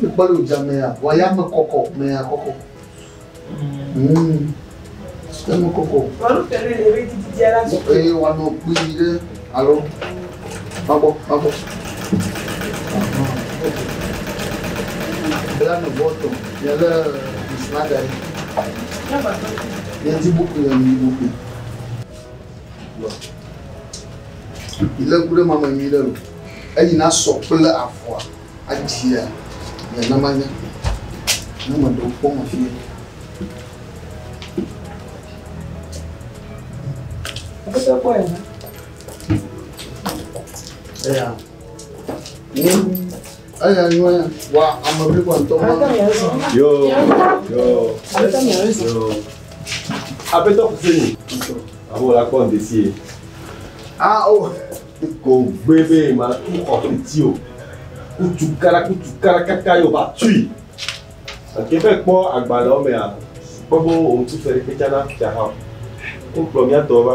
Mekpɔ ɖe wòdze amea, wòaya me kɔkɔ, mea kɔkɔ. Eme kɔkɔ. Eye wòanɔ kpui ɖe alo mabɔ, mabɔ. Bla nu bɔtɔ, nye lé ŋusu aɖe. Nye ti bukui, nye ti bukui. Ilé ku ɖe mame nyui ɖe lo. Eyi na sɔ kple avɔa adzia nye na manya. Ne me ɖewo kpɔ me fie. Ɔpɛtɛ kpɔ yɛ na. Eya. Ni eya nyɔ ya. Wa ame bli kɔ ntɔ ma. Yo. Yo. Yo. Aƒetɔ Kusenu, amewo la kpɔ ŋdi sie. Ao, ko gbe be matu xɔ fiti o. Kutu kara kutu kara kaka yo va tui. Eke be kpɔ agbalẽwo mea, kpɔ be wo ŋuti fe ɖeke tsana fia hã. Wokplɔ mía tɔwo va.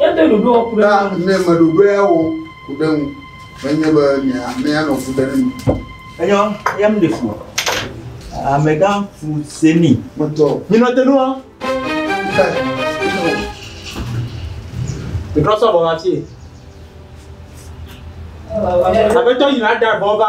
Edo ɖoɖoa ku ɖe ŋu. Ne meɖoɖoe awɔ ku ɖe ŋu, menye be mianɔ fu ɖe ŋu. Enyɔ, eya mi ɖe fu. Amegã fu se mi. Metɔ. Nyinɔ te nua. Metrɔ sɔ bɔ ma fie. Aƒetɔ yina da bɔ va.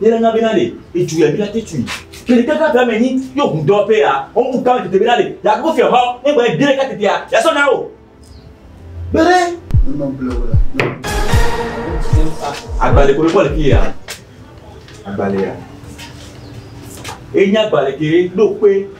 yele nga bena le etu ya bena te tui kele te ka me ni yo hu do pe ya o mu ka te bena le ya ko fe ho e gbe dire ka te ya ya so na o bere no ble wala agbale ko ko le ki ya agbale ya e nya agbale ke do pe